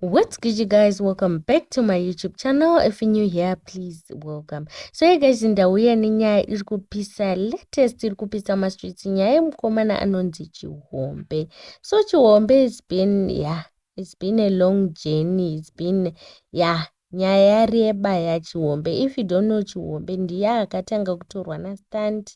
what's good you guys welcome back to my youtube channel if you're new here please welcome so hey guys ndauya nenyaya iri kupisa latest iri kupisa mastreets nyaya yemukomana anonzi chihombe so chihombe it's been yeah it's been a long journey it's been yeah Nyaya yareba ya Chihombe if you don't know Chihombe ndiye akatanga kutorwa na Stunt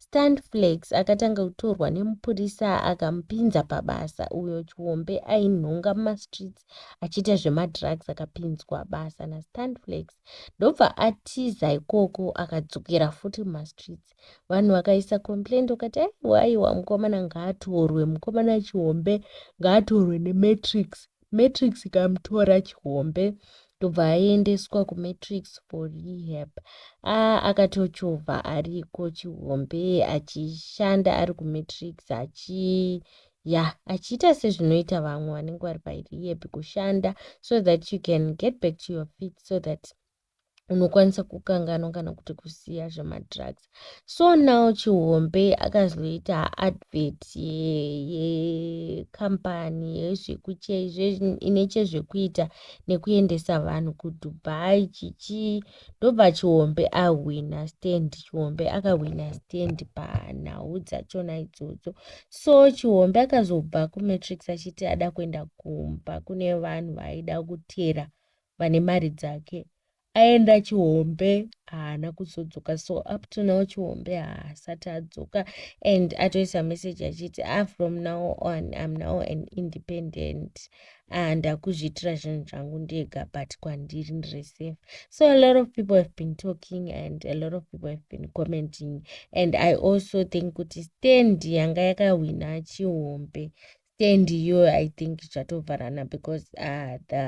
Stunt Flex akatanga kutorwa nemupurisa akamupinza pabasa uyo Chihombe ainhonga muma streets achiita zvema drugs akapinzwa basa na Stunt Flex ndobva atiza ikoko akadzokera futi muma streets vanhu vakaisa complaint ukati aiwa aiwa mukomana ngaatorwe mukomana Chihombe ngaatorwe ne Matrix matrix ikamutora chihombe ndobva aendeswa kumatrix for rehab a akatochovha ariko chihombe achishanda ari kumatrix achi ya achiita sezvinoita vamwe vanenge vari parehab kushanda so that you can get back to your feet so that unokwanisa kukanganwa kana kuti kusiya zvemadrugs so now chihombe akazoita advert yekambani ye, ine chezvekuita nekuendesa vanhu kudubai chichii ndobva chihombe ahwina stand chihombe akahwina stand panhau dzachona idzodzo so chihombe akazobva kumatrix achiti ada kuenda kumba kune vanhu vaaida kutera vane mari dzake aenda chihombe haana kuzodzoka so up to now chihombe haasati adzoka and atoisa message achiti a ah, from now on im now an independent ah, ndakuzviitira zvinhu zvangu ndega but kwandiri ndiri safe so a lot of people have been talking and a lot of people have been commenting and i also think kuti stand yanga yakahwina chihombe stand iyoyo i think zvatovharana because uh, the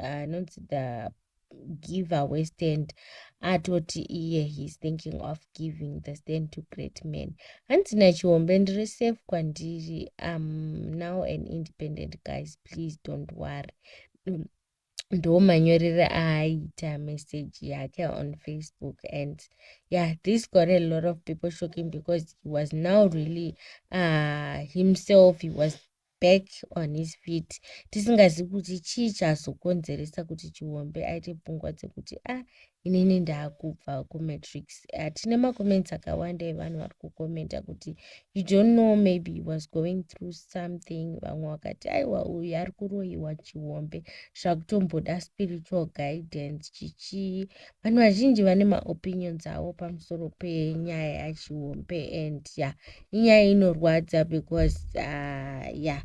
anonzi uh, the giveaway stand atoti iye heis thinking of giving the stand to great man hanzi nachihombe ndiri safe kwandiri am now an independent guys please don't worry ndo manyorere aaita message yake on facebook and yeah this got a lot of people shocking because he was now really uh, himself he was back on his feet tisingazivi kuti chii chazokonzeresa kuti chiombe aite pfungwa dzekuti ah inini ndakubva kumatrix uh, tine macomments akawanda evanhu vari kucomenta kuti you don't know maybe he was going through something vamwe vakati aiwa uyu ari kuroyiwa chihombe zvakutomboda spiritual guidance chichii vanhu vazhinji vane maopinions avo pamusoro penyaya yachihombe and ya yeah, inyaya inorwadza because uh, ya yeah.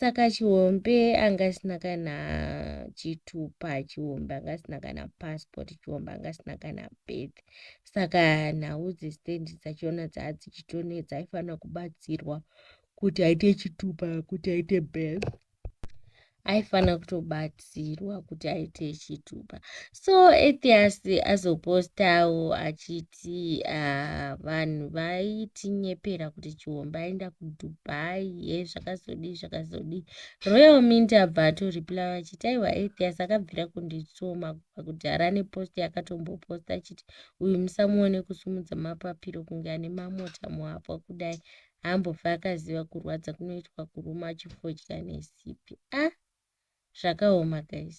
saka chihombe anga asina kana chitupa chihombe anga asina kana passport chihombe anga asina kana birth saka nhau dzestand dzachona dzaa dzichitonetsa aifanira kubatsirwa kuti aite chitupa kuti aite birth aifanira kutobatsa anokurudzirwa kuti aite chitupa so atheas azopostawo achiti uh, vanhu vaitinyepera kuti chihomba aenda kudubai ye zvakazodii zvakazodii royal mint abva atoriplya achiti aiwa atheas akabvira kunditsoma kubva kudhara nepost yakatomboposta achiti uyu musamuone kusumudza mapapiro kunge ane mamota muhapwa kudai haambofe akaziva kurwadza kunoitwa kuruma achifodya nesipi a ah, zvakaoma guys